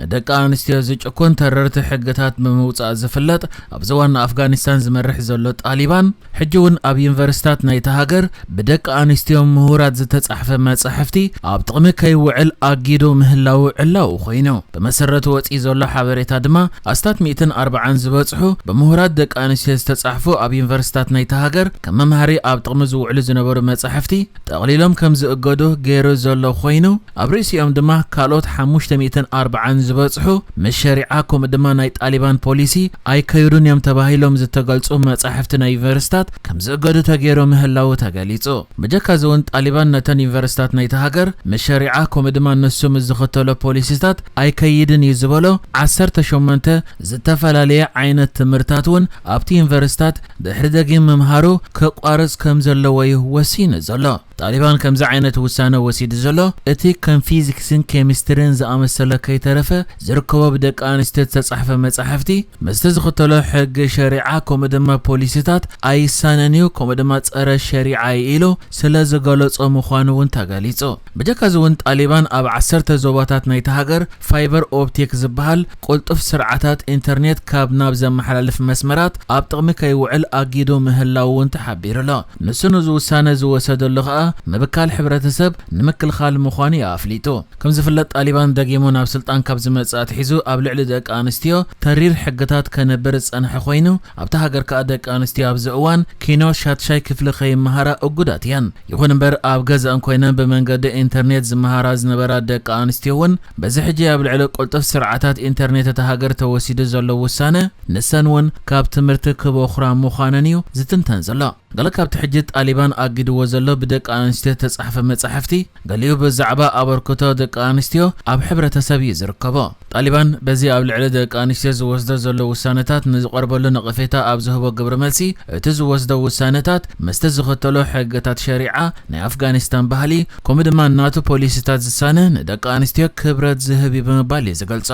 ንደቂ ኣንስትዮ ዝጭኩን ተረርቲ ሕግታት ብምውጻእ ዝፍለጥ ኣብዚ ዋና ኣፍጋኒስታን ዝመርሕ ዘሎ ጣሊባን ሕጂ እውን ኣብ ዩኒቨርሲታት ናይታ ሃገር ብደቂ ኣንስትዮ ምሁራት ዝተጻሕፈ መጻሕፍቲ ኣብ ጥቕሚ ከይውዕል ኣጊዱ ምህላው ዕላዊ ኮይኑ ብመሰረቱ ወጺኡ ዘሎ ሓበሬታ ድማ ኣስታት 140 ዝበጽሑ ብምሁራት ደቂ ኣንስትዮ ዝተጻሕፉ ኣብ ዩኒቨርሲታት ናይታ ሃገር ከም መምሃሪ ኣብ ጥቕሚ ዝውዕሉ ዝነበሩ መጻሕፍቲ ጠቕሊሎም ከም ዝእገዱ ገይሩ ዘሎ ኮይኑ ኣብ ርእሲኦም ድማ ካልኦት ሓሙሽተ ሚእትን ኣርብዓን ዝበጽሑ ምስ ሸሪዓ ከምኡ ድማ ናይ ጣሊባን ፖሊሲ ኣይከይዱን እዮም ተባሂሎም ዝተገልጹ መጻሕፍቲ ናይ ዩኒቨርሲታት ከም ዝእገዱ ተገይሩ ምህላዉ ተገሊጹ። ብጀካ እዚ እውን ጣሊባን ነተን ዩኒቨርሲታት ናይቲ ሃገር ምስ ሸሪዓ ከምኡ ድማ ንሱ ምስ ዝኽተሎ ፖሊሲታት ኣይከይድን እዩ ዝበሎ ዓሰርተ ሸሞንተ ዝተፈላለየ ዓይነት ትምህርታት እውን ኣብቲ ዩኒቨርሲታት ድሕሪ ደጊም ምምሃሩ ከቋርጽ ከም ዘለዎ እዩ ወሲኑ ዘሎ። ጣሊባን ከምዚ ዓይነት ውሳነ ወሲዱ ዘሎ፣ እቲ ከም ፊዚክስን ኬሚስትሪን ዝኣመሰለ ከይተረፈ ዝርከቦ ብደቂ ኣንስትዮ ዝተጻሕፈ መጻሕፍቲ፣ ምስቲ ዝኽተሎ ሕጊ ሸሪዓ ከምኡ ድማ ፖሊሲታት ኣይሳነን እዩ ከምኡ ድማ ጸረ ሸሪዓ እዩ ኢሉ ስለ ዝገለጾ ምዃኑ እውን ተገሊጹ። ብጀካ'ዚ እውን ጣሊባን ኣብ ዓሰርተ ዞባታት ናይታ ሃገር ፋይበር ኦፕቲክ ዝበሃል ቅልጡፍ ስርዓታት ኢንተርኔት ካብ ናብ ዘመሓላልፍ መስመራት ኣብ ጥቕሚ ከይውዕል ኣጊዱ ምህላዉ'ውን ተሓቢሩ'ሎ። ንሱ ነዚ ውሳነ ዝወሰደሉ ከኣ ምብካል ሕብረተሰብ ንምክልኻል ምዃኑ'ዩ ኣፍሊጡ። ከም ዝፍለጥ ጣሊባን ደጊሙ ናብ ስልጣን ካብ ዝመጽእ ኣትሒዙ ኣብ ልዕሊ ደቂ ኣንስትዮ ተሪር ሕግታት ከንብር ዝጸንሐ ኮይኑ፣ ኣብታ ሃገር ከኣ ደቂ ኣንስትዮ ኣብዚ እዋን ኪኖ ሻድሻይ ክፍሊ ከይመሃራ እጉዳት እየን። ይኹን እምበር ኣብ ገዝኣን ኮይነን ብመንገዲ ኢንተርኔት ዝመሃራ ዝነበራ ደቂ ኣንስትዮ'ውን፣ በዚ ሕጂ ኣብ ልዕሊ ቅልጡፍ ስርዓታት ኢንተርኔት እታ ሃገር ተወሲዱ ዘሎ ውሳነ፣ ንሰን እውን ካብ ትምህርቲ ክበዅራ ምዃነን እዩ ዝትንተን ዘሎ። ገለ ካብቲ ሕጂ ጣሊባን ኣጊድዎ ዘሎ ብደቂ ኣንስትዮ እተጻሕፈ መጻሕፍቲ፣ ገሊኡ ብዛዕባ ኣበርክቶ ደቂ ኣንስትዮ ኣብ ሕብረተሰብ እዩ ዝርከቦ። ጣሊባን በዚ ኣብ ልዕሊ ደቂ ኣንስትዮ ዝወስዶ ዘሎ ውሳነታት ንዝቐርበሉ ነቐፌታ ኣብ ዝህቦ ግብረመልሲ፣ እቲ ዝወስዶ ውሳነታት ምስቲ ዝኽተሎ ሕግታት ሸሪዓ፣ ናይ ኣፍጋኒስታን ባህሊ፣ ከምኡ ድማ ናቱ ፖሊሲታት ዝሳነ ንደቂ ኣንስትዮ ክብረት ዝህብ እዩ ብምባል እዩ ዝገልጾ።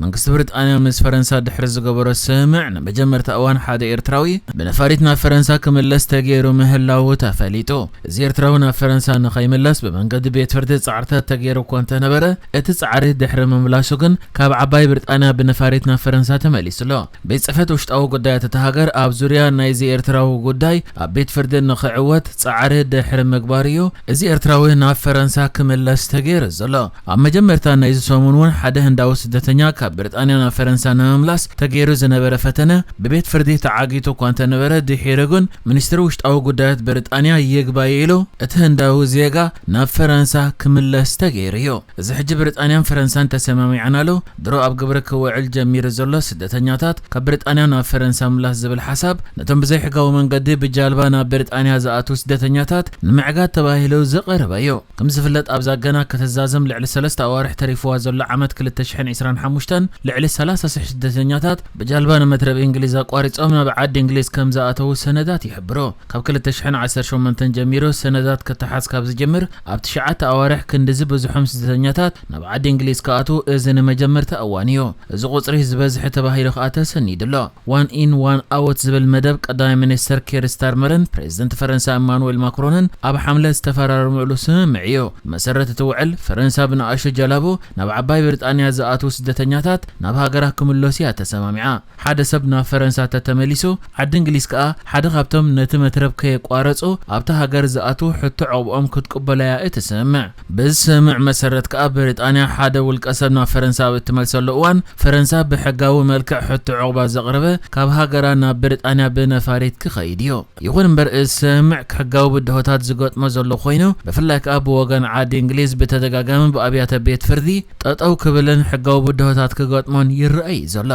መንግስቲ ብሪጣንያ ምስ ፈረንሳ ድሕሪ ዝገበሮ ስምምዕ ንመጀመርታ እዋን ሓደ ኤርትራዊ ብነፋሪት ናብ ፈረንሳ ክምለስ ተገይሩ ምህላዉ ተፈሊጡ። እዚ ኤርትራዊ ናብ ፈረንሳ ንኸይምለስ ብመንገዲ ቤት ፍርዲ ጻዕርታት ተገይሩ እኳ እንተነበረ እቲ ጻዕሪ ድሕሪ ምምላሱ ግን ካብ ዓባይ ብሪጣንያ ብነፋሪት ናብ ፈረንሳ ተመሊሱ ኣሎ። ቤት ጽሕፈት ውሽጣዊ ጉዳያት እታ ሃገር ኣብ ዙርያ ናይዚ ኤርትራዊ ጉዳይ ኣብ ቤት ፍርዲ ንኽዕወት ጻዕሪ ድሕሪ ምግባሩ'ዩ እዚ ኤርትራዊ ናብ ፈረንሳ ክምለስ ተገይሩ ዘሎ። ኣብ መጀመርታ ናይዚ ሰሙን'ውን ሓደ ህንዳዊ ስደተኛ ካብ ብሪጣንያ ናብ ፈረንሳ ንምምላስ ተገይሩ ዝነበረ ፈተነ ብቤት ፍርዲ ተዓጊቱ እኳ እንተነበረ ድሒሩ ግን ሚኒስትሪ ውሽጣዊ ጉዳያት ብሪጣንያ ይግባይ ኢሉ እቲ ህንዳዊ ዜጋ ናብ ፈረንሳ ክምለስ ተገይሩ'ዩ። እዚ ሕጂ ብሪጣንያን ፈረንሳን ተሰማሚዐናሉ ድሮ ኣብ ግብሪ ክውዕል ጀሚሩ ዘሎ ስደተኛታት ካብ ብሪጣንያ ናብ ፈረንሳ ምምላስ ዝብል ሓሳብ ነቶም ብዘይሕጋዊ መንገዲ ብጃልባ ናብ ብሪጣንያ ዝኣትው ስደተኛታት ንምዕጋት ተባሂሉ ዝቐረበ እዩ። ከም ዝፍለጥ ኣብዛ ገና ክትዛዘም ልዕሊ ሰለስተ ኣዋርሕ ተሪፍዋ ዘሎ ዓመት ክልተ ሽሕን ዕስራን ሓሙሽተን ልዕሊ ሰላሳ ሽሕ ስደተኛታት ብጃልባ ንመትረብ ኢንግሊዝ ኣቋሪጾም ናብ ዓዲ ኢንግሊዝ ከም ዝኣተው ሰነዳት ይሕብሩ። ካብ ክልተ ሽሕን ዓሰርተ ሸሞንተን ጀሚሩ ሰነዳት ክተሓዝ ካብ ዝጅምር ኣብ ትሽዓተ ኣዋርሕ ክንዲ ዝበዝሖም ስደተኛታት ናብ ዓዲ እንግሊዝ ክኣትዉ እዚ ንመጀመርታ እዋን እዩ። እዚ ቁጽሪ ዝበዝሐ ተባሂሉ ከኣ ተሰኒዱ ኣሎ። ዋን ኢን ዋን ኣዎት ዝብል መደብ ቀዳማይ ሚኒስተር ኪር ስታርመርን ፕረዚደንት ፈረንሳ ኢማኑዌል ማክሮንን ኣብ ሓምለ ዝተፈራረምእሉ ስምምዕ እዩ። ብመሰረት እቲ ውዕል፣ ፈረንሳ ብንኣሽቱ ጀላቡ ናብ ዓባይ ብሪጣንያ ዝኣትዉ ስደተኛታት ናብ ሃገራ ክምለሱ እያ ተሰማሚዓ። ሓደ ሰብ ናብ ፈረንሳ ተተመሊሱ፣ ዓዲ እንግሊዝ ከኣ ሓደ ካብቶም ነቲ መትረብ ከየቋረጹ ኣብታ ሃገር ዝኣትዉ ሕቶ ዑቕብኦም ክትቅበሎ'ያ እትስምምዕ። በዚ ስምምዕ መሰረት ከኣ ብሪጣንያ ሓደ ውልቀሰብ ናብ ፈረንሳ ኣብ እትመልሰሉ እዋን፣ ፈረንሳ ብሕጋዊ መልክዕ ሕቶ ዑቕባ ዘቕረበ ካብ ሃገራ ናብ ብሪጣንያ ብነፋሪት ክኸይድ'ዩ። ይኹን እምበር እዚ ስምምዕ ሕጋዊ ብድሆታት ዝገጥሞ ዘሎ ኮይኑ ብፍላይ ከኣ ብወገን ዓዲ እንግሊዝ ብተደጋጋሚ ብኣብያተ ቤት ፍርዲ ጠጠው ክብልን ሕጋዊ ብድሆታት ክገጥሞን ይረኣ እዩ ዘሎ።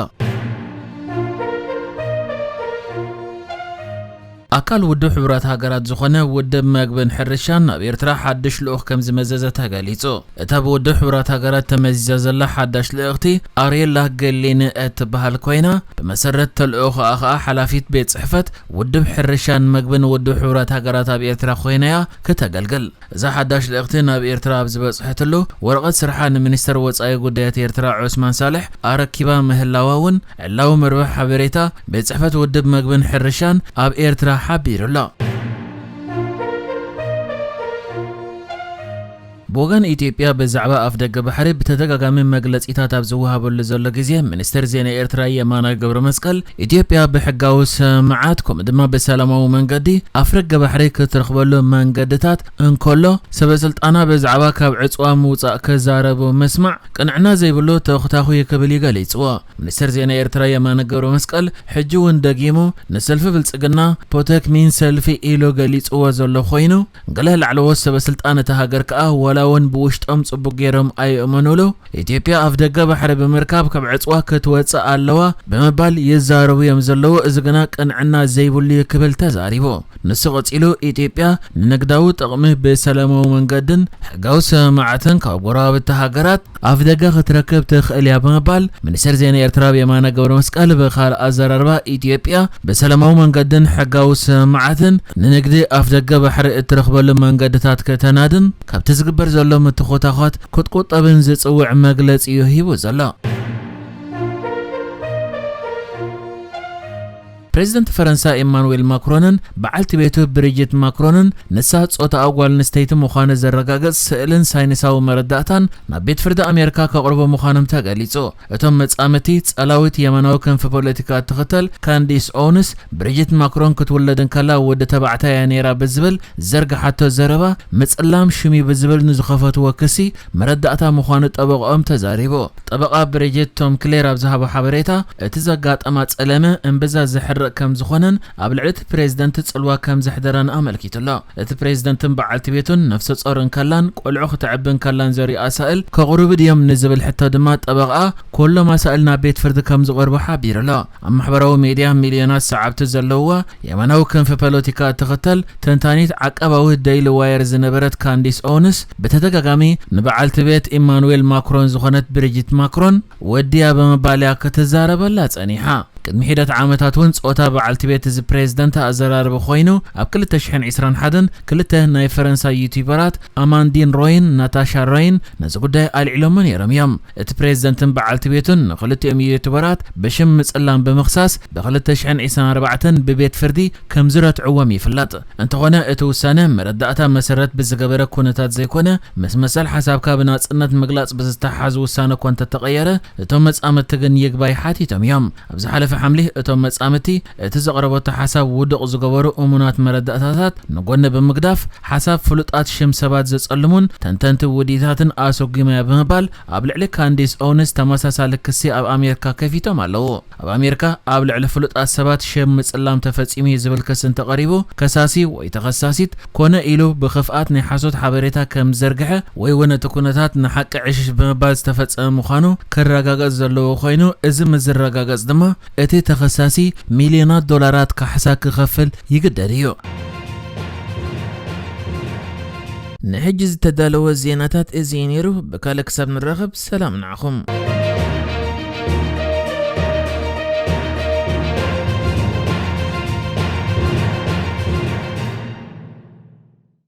ኣካል ውድብ ሕቡራት ሃገራት ዝኾነ ውድብ መግብን ሕርሻን ናብ ኤርትራ ሓድሽ ልኡኽ ከምዝመዘዘ ተገሊጹ። እታ ብውድብ ሕቡራት ሃገራት ተመዚዛ ዘላ ሓዳሽ ልእኽቲ ኣርየላ ገሊን እትበሃል ኮይና፣ ብመሰረት ተልእኾኣ ከኣ ሓላፊት ቤት ጽሕፈት ውድብ ሕርሻን መግብን ውድብ ሕቡራት ሃገራት ኣብ ኤርትራ ኮይና'ያ ክተገልግል። እዛ ሓዳሽ ልእኽቲ ናብ ኤርትራ ኣብ ዝበጽሐትሉ፣ ወረቐት ስርሓ ንሚኒስተር ወጻኢ ጉዳያት ኤርትራ ዑስማን ሳልሕ ኣረኪባ ምህላዋ'ውን ዕላዊ መርበብ ሓበሬታ ቤት ጽሕፈት ውድብ መግብን ሕርሻን ኣብ ኤርትራ ሓቢሩ'ሎ። ብወገን ኢትዮጵያ ብዛዕባ ኣፍደገ ባሕሪ ብተደጋጋሚ መግለጺታት ኣብ ዝወሃበሉ ዘሎ ግዜ፣ ሚኒስተር ዜና ኤርትራ የማነ ገብረመስቀል፣ ኢትዮጵያ ብሕጋዊ ስምምዓት ከምኡ ድማ ብሰላማዊ መንገዲ ኣፍረገ ባሕሪ ክትረኽበሉ መንገድታት እንከሎ፣ ሰበስልጣና ብዛዕባ ካብ ዕጽዋ ምውጻእ ክዛረቡ ምስማዕ ቅንዕና ዘይብሉ ተኹታኹ'ዩ ክብል'ዩ ገሊጽዎ። ሚኒስተር ዜና ኤርትራ የማነ ገብረመስቀል ሕጂ'ውን ደጊሙ ንሰልፊ ብልጽግና ፖተክሚን ሰልፊ ኢሉ ገሊጽዎ ዘሎ ኮይኑ፣ ገለ ላዕለዎት ሰበስልጣን እታ ሃገር ከኣ ዋላ'ውን ብውሽጦም ጽቡቕ ገይሮም ኣይእመኑሉ፣ ኢትዮጵያ ኣፍደገ ባሕሪ ብምርካብ ካብ ዕጽዋ ክትወጽእ ኣለዋ ብምባል ይዛረቡ'ዮም ዘለዉ፣ እዚ ግና ቅንዕና ዘይብሉ'ዩ ክብል ተዛሪቡ። ንሱ ቀጺሉ፣ ኢትዮጵያ ንንግዳዊ ጥቕሚ ብሰላማዊ መንገድን ሕጋዊ ስምምዓትን ካብ ጎረባብቲ ሃገራት፣ ኣፍደገ ክትረክብ ትኽእል እያ ብምባል ሚኒስተር ዜና ኤርትራ ብ የማነ ገብረመስቀል ብካልእ ኣዘራርባ ኢትዮጵያ ብሰለማዊ መንገድን ሕጋዊ ስምምዓትን ንንግዲ ኣፍደገ ባሕሪ እትረኽበሉ መንገድታት ከተናድን ካብቲ ዝግበር ዘሎ ምትኾታዃት ክትቁጠብን ዝጽውዕ መግለጺ'ዩ ሂቡ ዘሎ። ፕረዚደንት ፈረንሳ ኤማኑዌል ማክሮንን በዓልቲ ቤቱ ብሪጂት ማክሮንን ንሳ ጾታኣ ጓል ኣንስተይቲ ምዃኑ ዘረጋግጽ ስእልን ሳይንሳዊ መረዳእታን ናብ ቤት ፍርዲ ኣሜሪካ ከቕርቡ ምዃኖም ተገሊጹ። እቶም መጻምድቲ፣ ጸላዊት የማናዊ ክንፊ ፖለቲካ እትኽተል ካንዲስ ኦውንስ፣ ብሪጂት ማክሮን ክትውለድ እንከላ ወዲ ተባዕታይ እያ ነይራ ብዝብል ዝዘርግሓቶ ዘረባ፣ ምጽላም ሽም'ዩ ብዝብል ንዝኸፈትዎ ክሲ መረዳእታ ምዃኑ ጠበቕኦም ተዛሪቡ። ጠበቓ ብሪጂት ቶም ክሌር ኣብ ዝሃቦ ሓበሬታ፣ እቲ ዘጋጠማ ጸለመ እምብዛ ዘሕርቕ ከምዝኾነን ኣብ ልዕሊ እቲ ፕሬዝደንት ጽልዋ ከምዘሕደረን ኣመልኪቱ ኣሎ። እቲ ፕሬዝደንትን በዓልቲ ቤቱን ነፍሰጾር እንከላን ቆልዑ ክተዕቢ እንከላን ዘርእዩ ኣሳእል ከቕርቡ ድዮም ንዝብል ሕቶ ድማ ጠበቓኣ፣ ኩሎም ኣሳእል ናብ ቤት ፍርዲ ከምዝቐርቡ ሓቢሩ ኣሎ። ኣብ ማሕበራዊ ሚድያ ሚልዮናት ሰዓብቲ ዘለዉዋ፣ የማናዊ ክንፊ ፖለቲካ እትኽተል፣ ተንታኒት ዓቃባዊት ደይሊ ዋየር ዝነበረት ካንዲስ ኦውንስ፣ ብተደጋጋሚ ንበዓልቲ ቤት ኢማኑዌል ማክሮን ዝኾነት ብሪጂት ማክሮን ወድያ ብምባል'ያ ክትዛረበላ ጸኒሓ። ቅድሚ ሒደት ዓመታት'ውን ጾታ በዓልቲ ቤት እዚ ፕሬዝደንት ኣዘራርቢ ኮይኑ፣ ኣብ ክልተ ሽሕን ዕስራን ሓደን ክልተ ናይ ፈረንሳ ዩቱበራት ኣማንዲን ሮይን ናታሻ ሮይን ነዚ ጉዳይ ኣልዒሎሞ ነይሮም እዮም። እቲ ፕሬዝደንትን በዓልቲ ቤቱን ንክልቲኦም ዩዩቱበራት ብሽም ምፅላም ብምኽሳስ ብ ክልተ ሽሕን ዒስራን ኣርባዕተን ብቤት ፍርዲ ከምዝረትዕዎም ይፍለጥ። እንተኾነ እቲ ውሳነ መረዳእታ መሰረት ብዝገበረ ኩነታት ዘይኮነ ምስ መሰል ሓሳብካ ብናፅነት ምግላፅ ብዝተሓሓዝ ውሳነ እኳ እንተተቐየረ እቶም መፃምድቲ ግን ይግባይ ሓቲቶም እዮም። ኣብ ዝሓለፈ ሓምሊ እቶም መፃምድቲ እቲ ዘቕረበቶ ሓሳብ ውዱቕ ዝገበሩ እሙናት መረዳእታታት ንጎኒ ብምግዳፍ፣ ሓሳብ ፍሉጣት ሽም ሰባት ዘጸልሙን ተንተንቲ ውዲታትን ኣሰጉማ'ያ ብምባል ኣብ ልዕሊ ካንዲስ ኦውንስ ተመሳሳሊ ክሲ ኣብ ኣሜርካ ከፊቶም ኣለዉ። ኣብ ኣሜርካ ኣብ ልዕሊ ፍሉጣት ሰባት ሽም ምጽላም ተፈጺሙ'ዩ ዝብል ክሲ እንተቐሪቡ ከሳሲ ወይ ተኸሳሲት ኮነ ኢሉ ብኽፍኣት ናይ ሓሶት ሓበሬታ ከም ዝዘርግሐ ወይ'ውን እቲ ኩነታት ንሓቂ ዕሽሽ ብምባል ዝተፈጸመ ምዃኑ ክረጋገጽ ዘለዎ ኮይኑ እዚ ምስ ዝረጋገጽ ድማ እቲ ተኸሳሲ ሚልዮናት ዶላራት ካሕሳ ክኸፍል ይግደድ እዩ። ንሕጂ ዝተዳለወ ዜናታት እዚ እዩ ነይሩ። ብካልእ ክሳብ ንራኸብ ሰላም ንዓኹም።